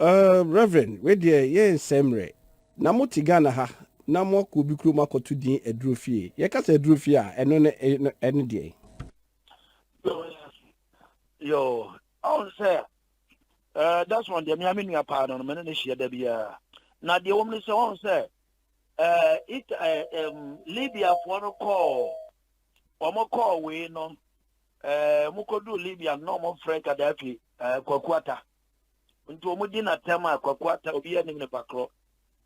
Err Reverend wei deɛ yɛ nsɛe mmerɛ. Na mo te Ghana ha na mo akɔ obi kurom akɔ to din aduro fie. Yɛ ka sɛ aduro fie a ɛno ne ɛne deɛn? Yoo ɔhu sɛ err Desmond deɛ me ara me nua paa no no me ne no hyia da biara. Na deɛ ɛwɔ mu ne sɛ ɔhu sɛ err it err um, Libya foɔ no kɔɔ wɔn kɔɔ wei no ɛɛ wɔn kɔduu Libya no na wɔn frɛ Gaddafi ɛɛ Kwakuata. nti wɔn di no atɛm a kwaku ata obi anim ne pakorɔ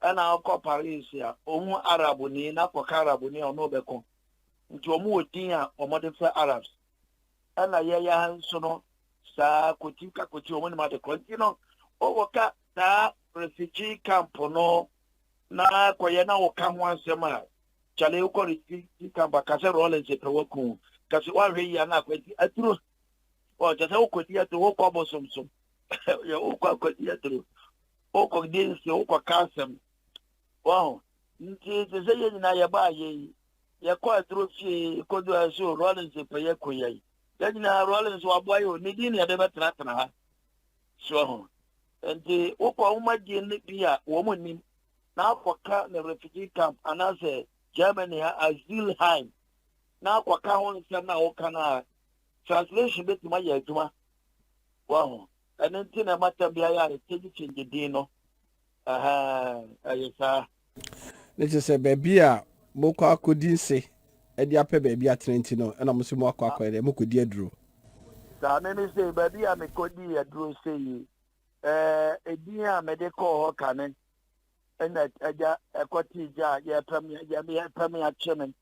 ɛna ɔkɔ paris a ɔhu arabuni na kɔka arabuni a ɔno ɔbɛko nti wɔn wɔ din a wɔn de fɛ arabs ɛna yɛyɛ ha nso no saa koti ka koti wɔn nim adekorɔ nti no wɔwɔ ka saa refugee camp no na kɔyɛ na wɔka ho asɛm a kyale wokɔ refugee camp akasɛ rollins pɛ waku kasi wahwɛ yi a na akɔ nti aduro Ɔ kyɛ sɛ wokɔdi atoro, wokɔ abosomsom, wokɔ akɔdi atoro, wokɔdi nse, wokɔka asɛm. Wahu? Nti te sɛ yɛn nyinaa yɛbaa yɛ yi, yɛkɔ atoro fie kɔdu ayɛ so Rollins pɛ yɛ kɔ yɛ yi. Yɛn nyinaa Rollins waboa yɛ o, ne din na yɛde bɛtenatena ha. So wahu? Nti wokɔ nwoma din no bi a wɔn nim na akɔka ne refugee camp anaasɛ Germany ha Asylheim na akɔka ho nsɛm no a woka no a Translation betumi ayɛ adwuma, wahu. Ɛno nti na ɛma tɛm biara a yɛkyɛngye kyɛngye din no. Ɛyɛ saa. Ne kyerɛ sɛ baabi a mokɔ akɔdi nse de apɛ baabi atena nti no, ɛna mo nso mo akɔ akɔyɛ dɛ mokɔdi aduro. Saa me me sei, baabi a mekɔdii aduro sei, edin a mede kɔɔ hɔ kane ɛna agya ɛkɔte gya a yɛpɛ me yɛpɛ me akye me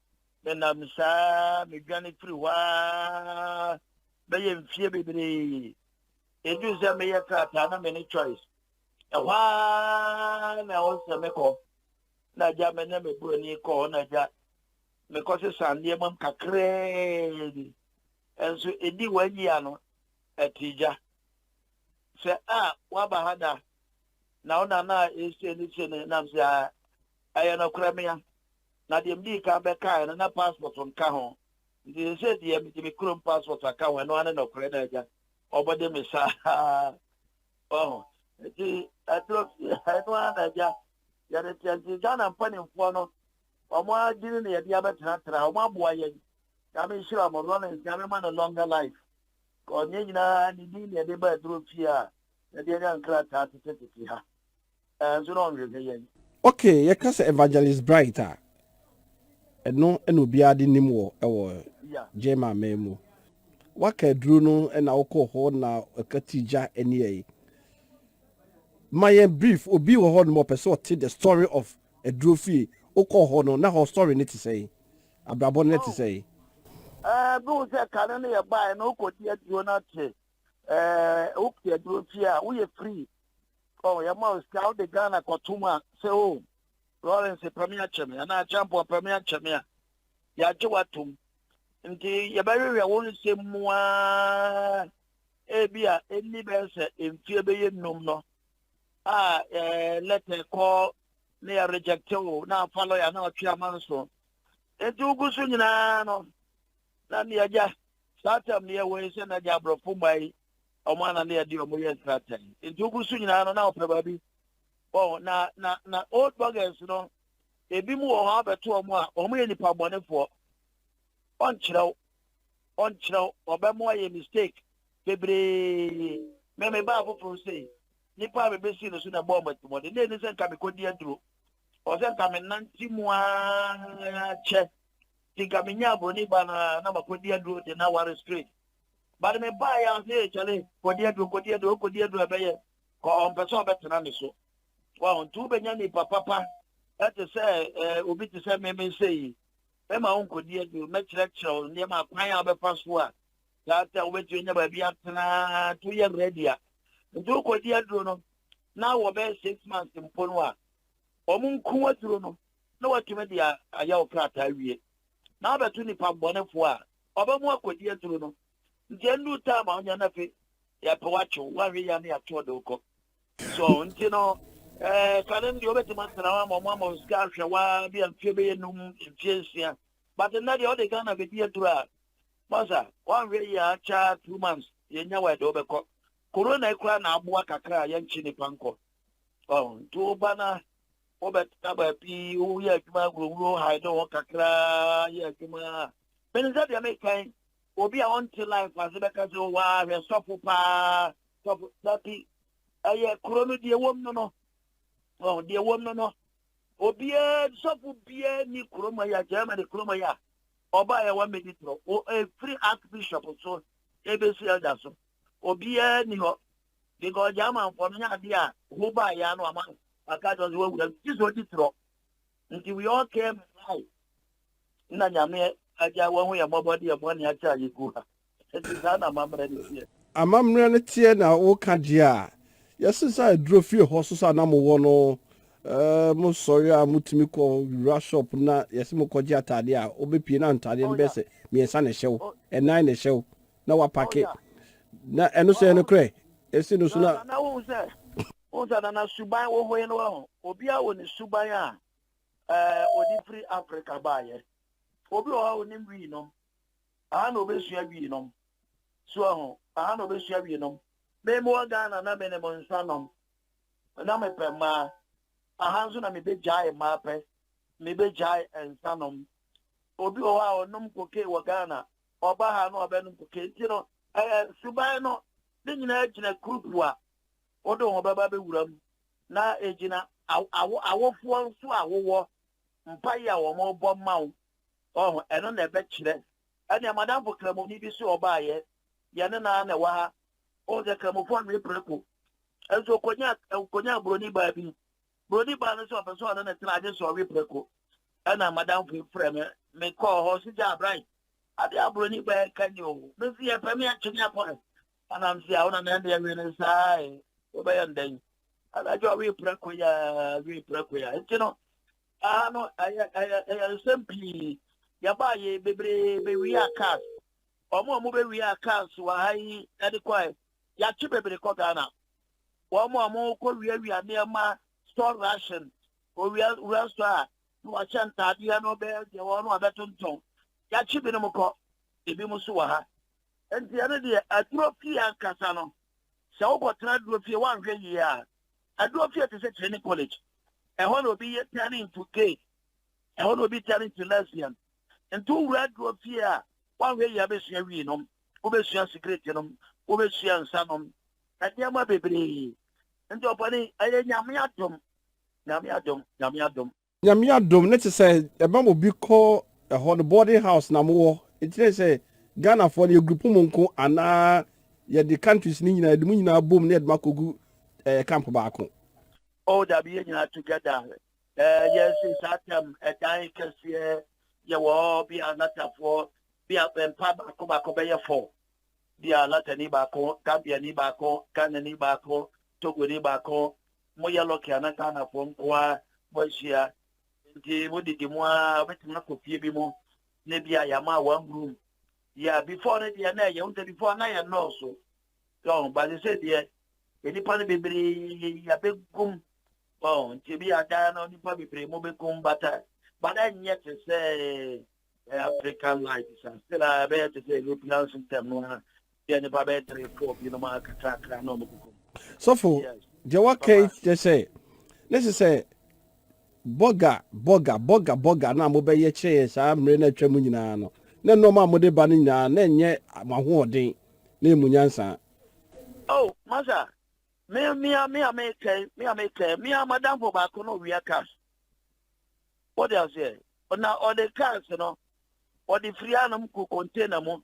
Menam saa ara medwane firi hɔ ara bɛyɛ mfeɛ bebree. Ɛduru sɛ meyɛ krataa na me ne Choice. Ɛhɔ ara na ɛwɔ sɛ mekɔ na agya me ne me buroni kɔ hɔ na agya mekɔ sesa nneɛma mu kakraa bi. Nso ɛdi wɔn yia no ɛte gya sɛ a waba ha da na wo nana a ɛsie ne sie ne nam sɛ a ɛyɛ nɔkorɛ mea na deɛ medii kan bɛkaeɛ no na passport nka ho, nti seesei deɛ mede me kurom passport aka ho, ɛno ara ne nɔkorɛ na agya ɔbɔde me saa, wahu, nti ɛduro fie ha, ɛno ara na agya yɛde teɛ, nti Ghana mpanimfoɔ no, wɔn adwene na yɛde abɛtenatena, wɔn aboa yɛn, Nyame nhyira wɔn, Rollins Nyame ma no longer life, cause ne nyinaa ne din na yɛde ba aduro fie a yɛde anya nkrataa tetetete ha. Ɛnso na ɔnhwɛ sɛ yɛn. Okay, yɛka sɛ Evangelist Bright a, ɛno na obiara de nim wɔ ɛwɔ German man mu. Waka aduro no na wokɔ hɔ na ɛka ti gya ani ɛyi. Ma yɛn brief, obi wɔ hɔ nom ɔpɛ sɛ ɔte the story of aduro fie. Wokɔ hɔ no, na hɔ story no te sɛn? Abrabɔ no te sɛn? Ɛɛ, bi wo sɛ kane no yɛ bae no, wokɔ di aduro no ate. Ɛɛ, wokɔ aduro fie a, woyɛ free. oh yɛma wo sika wode ghana kɔtom a sɛ o oh, lawrence pɛ me akyɛ me anaa champon pɛ me akyɛ me a yɛagye woatom nti yɛbɛhwehwɛ wo nsɛm mu aa ebi a ɛnni bɛyɛ sɛ mfie bɛyɛ nnum no a lɛtɛ kɔ ne yɛ rejecte wo na afa lɔya na ɔtwe ama nso nti wogu so nyinaa no na neagya saa tam ne yɛwɔ yi sɛ nagya aborɔfo mma yi Wɔn ananea deɛ wɔn yɛ sratan. Nti wogu so nyinaa no na wɔpɛ baabi. Wɔn na na na old buggers no ebi mu wɔ hɔ abɛto wɔn a wɔn yɛ nipa bɔnefoɔ. Wɔnkyerɛw wɔnkyerɛw wɔbɛ mo ayɛ mistake bebree. Mɛ me baa foforɔ sei nipa a mebɛsi no so na ɛbɔɔ mmatimɔde na ɛni sɛ nka mekɔdi aduro ɔ sɛ nka menante mu ara kyɛ nti nka menya aburoni ba no a na makɔdi aduro de na ware straight But me baa yɛ ɔse ee kyale kɔdi aduro kɔdi aduro okɔdi aduro ɛbɛyɛ kɔ ɔmpɛ sɛ ɔbɛtena ne so waho nti wobɛnya nipa papa ɛte sɛ ɛɛ obi te sɛ me me nsɛ yi mɛma wo nkɔdi aduro mɛkyerɛkyerɛ wo nneɛma akwan a wobɛfa so a tata wobɛtumi anya baabi atena nti woyɛ ready a nti wokɔdi aduro no na wɔbɛyɛ six months mpo no a wɔn nko aduro no na watumi de ayɛ wo krataa wie na wabɛto nipa bɔnefoɔ a Ɔba mu akodi aduru no nti ɛndu time a ɔnya no afe yɛpɛ wakye wo wahwe ya ne ato ɔde wokɔ so nti no ɛɛ kane no deɛ wobɛtumi atena hɔ ama ɔmo ama wo sika ahwɛ waa bi a mfie bɛyɛ num mfie nsia but nnɛ deɛ ɔde Ghana bɛdi aduru a masa wanhwɛ yɛ akyɛ two months yɛnya wɔ ɛde wobɛkɔ corona ekura na aboa kakra a yɛnkye nipa nkɔ ɔn nti woba na wobɛtena baabi woyɛ adwuma wurawuro ha ɛde hɔ kakra yɛ adwuma a Menim sɛ deɛ mekan obi a ɔnte life ase bɛka sɛ waa hwɛ sɔfo paa sɔfo dabi ɛyɛ kuro no deɛ wɔm no no wɔn deɛ wɔm no no obiara sɔfo biara ni kurom yi a Germany kurom yi a ɔbaa yɛ wɔn mɛdi toro wɔ efiri archbishop so ebesi ɛda so obiara ni hɔ because German fɔ no nyɛ adeɛ a ho baa yɛ ano ama aka kyerɛ sɛ wɔwura gye sɛ ɔdi toro Nti we all came in life na Nyame agya wahu yɛn mmɔbɔ de yɛn bɔne akyɛ a yɛgu ha. Nti saa na amammerɛ no teɛ. Amammerɛ no teɛ na woka deɛ a, yɛse sɛ aduro fie hɔ so sa na mowɔ no, mo sɔre a motumi kɔ wura shop na yɛse mokɔgye ataadeɛ a, wobɛpie na ntaadeɛ no bɛyɛ sɛ mmiɛnsa na ɛhyɛ wo, ɛnan na ɛhyɛ wo na wapake na ɛno so ɛyɛ nokorɛ? Ɛsi no so na. Saa na wohu sɛ. Wohu sɛ na na suban hohoe no wɔ hɔ. Obiara wɔ ne suban a ɔde firi Afrika baeɛ. Obi wɔ hɔ a ɔnim wii nom. Aha na ɔbɛsua wii nom. So ahu? Aha na ɔbɛsua wii nom. Me mewɔ Ghana na menim nsa nom. Na mepɛ mmaa. Aha nso na mebɛgyae mmaa pɛ. Mebɛgyae nsa nom. Obi wɔ hɔ a ɔnom cocaine wɔ Ghana. Ɔba ha na ɔbɛnom cocaine. Nti no, suban no, ne nyinaa gyina kurukuwa. Wode wo bɛba bɛwura mu na ɛgyina awofoɔ nso a wowɔ mpaeɛ a wɔbɔ ma wo ɔho ɛno na ɛbɛkyerɛ ɛnea madamfo kramoni bi so ɔbaeɛ yɛne no ara na ɛwɔ ha wohu sɛ kramofoɔ nwe preko nso ɔkɔnya ɔkɔnya buroni baa bi buroni baa no nso ɔpɛ sɛ ɔne ne tena agye sɛ ɔwe preko ɛna madamfo yi frɛ me mekɔɔ hɔ so gya abran adeɛ a buroni baa ka ni o mesi yɛpɛ me akyene akɔ Anam se a wo na na ɛndeɛ we no saa e, wobɛyɛ no dɛn? Anadwo a we prɛko ya, we prɛko ya. Nti no, aha no ɛyɛ ɛyɛ ɛyɛ nsɛm pii. Yɛbaa yɛ bebree bɛwia cars. Wɔn a wɔbɛwia cars wɔ ha yi de kɔɛ, yɛakye bebree kɔ Ghana. Wɔn a wɔkɔ wiawia nneɛma store ration, owia wura so a na wɔahyɛ ntaadeɛ no bɛyɛ deɛ wɔn no abɛtontɔn. Yɛakye binom kɔ, ebinom nso wɔ ha. Enti ɛno deɛ, aduro fie ankasa no, sɛ wokɔtena aduro fie, woanhwɛ yie a, aduro fie te sɛ training college. Ɛhɔ na obi yɛ turn into gay, ɛhɔ na obi turn into lesbian. Nti wowura aduro fie a, woanhwɛ yie a, wobɛsua wii nom, wobɛsua sigaret nom, wobɛsua nsa nom, nneɛma bebree. Nti ɔpanin, ɛyɛ Nyame adom, Nyame adom, Nyame adom. Nyame adom ne te sɛ ɛma obi kɔ ɛhɔ no boarding house na mowɔ ɛkyerɛ sɛ Ghana foɔ no yɛ group mu nko anaa yɛde countries no nyinaa yɛde mo nyinaa bom na yɛde mo akɔgu ɛɛ camp baako. Oh dabi yɛ nyinaa together ɛɛ yɛ nso saa term ɛdan kɛseɛ yɛ wɔ hɔ bi a lata foɔ bi a mpa baako baako bɛyɛ four bi a lata ni baako Gambia ni baako Ghana ni baako Togo ni baako mo yɛ lɔki a na Ghanafoɔ nkoa mo ahyia nti mo didi mo ara wobɛtumi akɔ fie bi mu na bi a yɛama one room yɛ before no deɛ na ɛyɛ wo sɛ before na yɛ nnɔɔso yɛn ba sɛ sɛ deɛ nnipa no bebree yɛbɛgum wɔn nti bi a daa no nnipa bebree mo bɛgum bata bada nyɛ te sɛ African life sa still a ɛbɛyɛ te sɛ European system no a Yɛ nnipa bɛyɛ three four binom a kakrakra na ɔmo koko mu. Sɔfo, deɛ waka yi kyerɛ sɛ ne sɛ sɛ bɔga bɔga bɔga bɔga na mobɛyɛ kyerɛ yɛn saa mmerɛ no atwa mu nyinaa no na nneɛma a mode ba no nyinaa na ɛnyɛ mo ahoɔden na ɛmu nyansa. Oh, masa, me mea mea me kɛn mea me kɛn mea madamfo baako no wia cars. Wɔde aseɛ na ɔde cars no ɔde firi anom kɔ container mu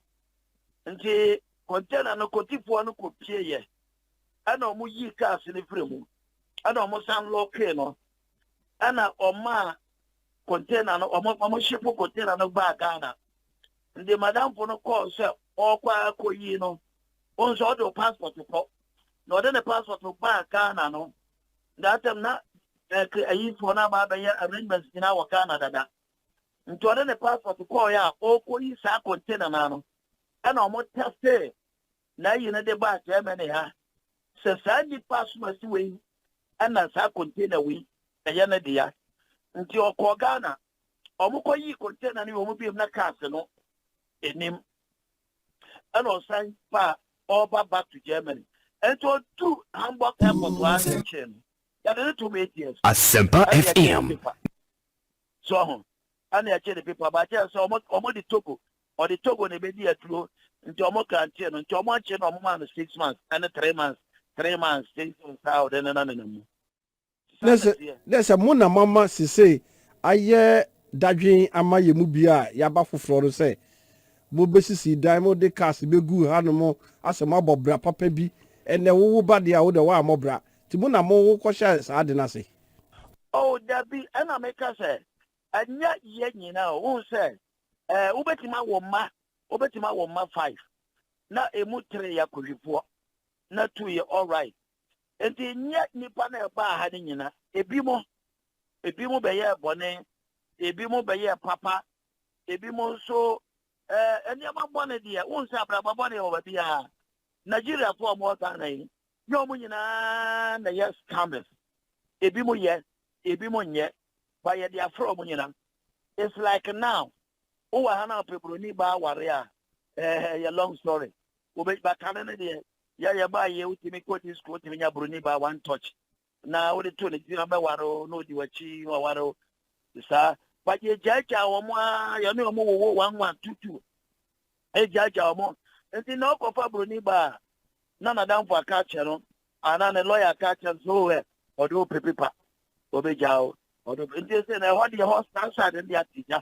Ntsi container no kotifoɔ no kopieeɛ na wɔn yii cars no firi mu na wɔn san lɔkee no na wɔn maa container no wɔn wɔn shipo container no baa Ghana. Nti madamfo no kɔɔ sɛ ɔrekɔ akɔyi no, wɔn nso ɔde o passport kɔ na ɔde ne passport baa Ghana no. That time na ɛɛ ayifoɔ no aba abɛyɛ arrangements nyinaa wɔ Ghana dada. Nti ɔde ne passport kɔɔeɛ a ɔrekɔyi saa container no ara no ɛna wɔn tɛstee n'ayi no de baa Germany ha sɛ saa nnipa asomasi wei ɛna saa container wei ɛyɛ ne dea. Nti ɔkɔɔ Ghana, wɔn kɔyii container no wɔn biom na cars no anim ɛna ɔsan baa ɔreba back to Germany. Nti ɔduru Hamburg airport hɔ ara na ɛkyɛɛ no yɛde no toom eight years Asɛmpa ɛna yɛgye ne FM. paper. so ho na ɛkye ne pepa ba kyɛn sɛ ɔmo de Togo ɔde Togo na ebedi aduro nti ɔmo krantee no nti ɔmo ankye na ɔmo maa no six months ɛne three months three months six months saa ɔde ne na nenam mu. Dɛ sɛ mo na moama sesei ayɛ dadwen ama yɛn mu bi a yɛaba foforɔ no sɛ mobɛsisi dan, mode cars bɛgu hanom asɛ moabɔ bra papa bi, ɛnnɛ wowo ba deɛ a wode woammɔ bra, Nti mo na mo kɔhyɛɛ saa ade no ase? Oh, dabi, ɛna meka sɛ, Ɛnyɛ yɛn nyinaa o. Wohu sɛ, eh, wobɛtumi awo mma, wobɛtumi awo mma five, na emu three yɛ akohwifoɔ, na two yɛ all right. Nti nyɛ nnipa no a ɛbaa ha no nyina, ebi mo, ebi mo bɛyɛɛ bɔne, ebi mo bɛyɛɛ papa, ebi mo nso, eh, nneɛma bɔne deɛ, wohu sɛ abrabɔ bɔne wɔ baabiara. Nigeriafoɔ a wɔwɔ Ghana yi, Nyɛ wɔn nyinaa na ɛyɛ scammers. Ebinom yɛ, ebinom nyɛ, but yɛde afrɛ wɔn nyinaa. It's like now, wowɔ ha na wopɛ buroni baa aware a, eh, ɛyɛ long story. Wobɛ, but kane no deɛ, yɛ yɛbaayɛ, wotumi kɔdi school, wotumi nya buroni baa one touch. na wode too ne tirim abɛware wo na ɔdi w'akyi na waware wo te saa wagye agyaagyaa wɔn a yɛne wɔn wowo wɔn nwa tutu agyaagyaa wɔn nti na ɔkɔfa buroni ba a na n'adamfo aka akyerɛ no anaa ne lɔya aka akyerɛ no so ɛ ɔde wo pepepa ɔbɛgya wo ɔde nti sɛ na ɛhɔ deɛ hɔ saa saa de ate gya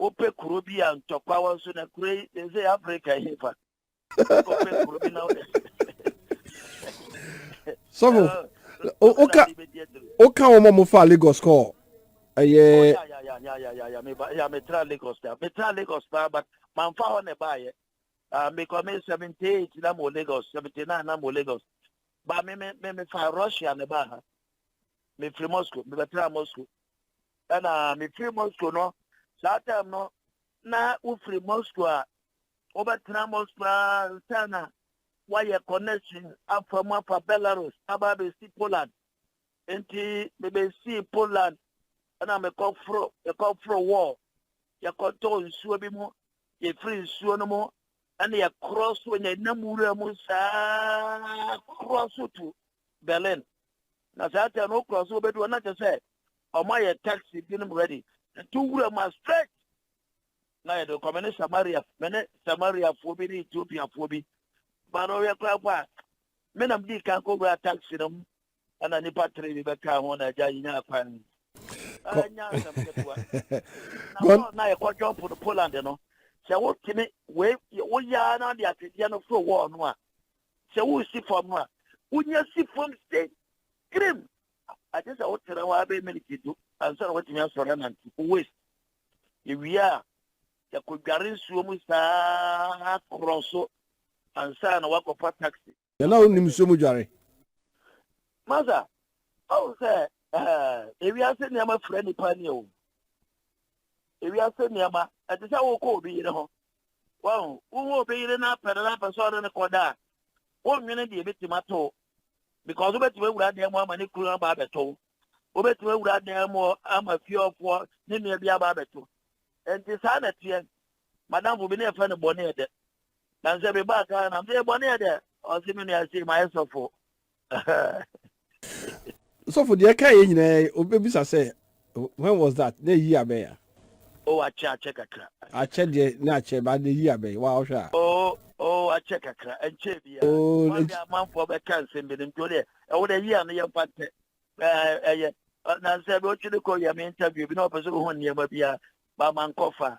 wopɛ kuro bi a ntɔkwa wɔ so na kuro yi ne sɛ afrika yi fa wopɛ kuro bi na sɔfo woka woka wɔn a wɔfa lagos kɔ ɛyɛ ya metra lagos da metra lagos paa but mamfa hɔ na ɛbaayɛ ah, mekɔ me seventy eight na mo lagos seventy nine na mo lagos ba me me me fa russia na ɛbaa ha mefiri moscow mebɛtena moscow ɛna mefiri moscow no saa time no na wofiri moscow a wobɛtena moscow a nsa na woayɛ connection afa mu afa belarus aba abɛsi poland nti mebɛsii poland ɛna mekɔforo mekɔforo wɔɔ yɛkɔtɔ nsuo bi mu yɛfiri nsuo no mu ɛna yɛkorɔ so yɛnam wura mu saa korɔ so to berlin na saa time no wokura so wɔbɛdu hɔ na kyɛ sɛ ɔmo ayɛ taxi binom ready ɛto wura mu a straight na yɛde kɔ me ne samaria me ne samariafoɔ bi ne ethiopiafoɔ bi ba no yɛ koraa po a me nam dii kan kɔ wura taxi no mu ɛna nipa tere bi bɛka ho na agya nyaa kwan anya asɛm ketewa na yɛkɔ jɔmpo no poland no sɛ wotumi woyaa na de atwedeɛ no foro wɔɔ no a Sɛ woresi fam a, wunya si fam sɛ kirim. Agye sɛ wotena hɔ ara bɛyɛ miniti du ansa na woatumi asɔre anante. Wowes. Ewie a, sɛ kodware nsuo mu saa korɔ so ansa na woakɔfa taxi. Yɛn a wonim nsuo mu dware. Masa, woahu sɛ eh, ewiase nneɛma fira nnipa ani o. Ewiase nneɛma, ɛte sɛ wokɔ obi yere ho. Wahu. Wo wo obi yere no apɛ no na apɛ sɛ ɔne no kɔda a, wonnwene deɛ ɛbɛtumi ato wo. Because wobɛtumi awura dan mu ama ne kunu aba abɛto wo. Wobɛtumi awura dan mu ama fieɔfoɔ ne nua bi aba abɛto. Nti saa na teɛ. Madamfo bi ne ɛfɛ no bɔne ɛdɛ. Nanso ɛbɛbaa Ghana. Mese bɔne ɛdɛ. Ɔse me nua sei mayɛ sɔfo. sɔfo deɛ ɛka yɛ nyinaa yi obɛbisa sɛ when was that na ɛyi abɛn a o akyɛ akyɛ kakra akyɛ deɛ na akyɛ ba na ɛyi abɛn wa ɔhwɛ a o o akyɛ kakra ɛnkyɛ bi a wɔde amanfoɔ bɛka nsɛm bi no nti wodeɛ ɛwo dɛ yi a no yɛmfa ntɛ ɛyɛ nansɛ bi wotwe ne kɔ yɛ me interview bi na ɔpɛ sɛ wohu nneɛma bi a ba ma nkɔfa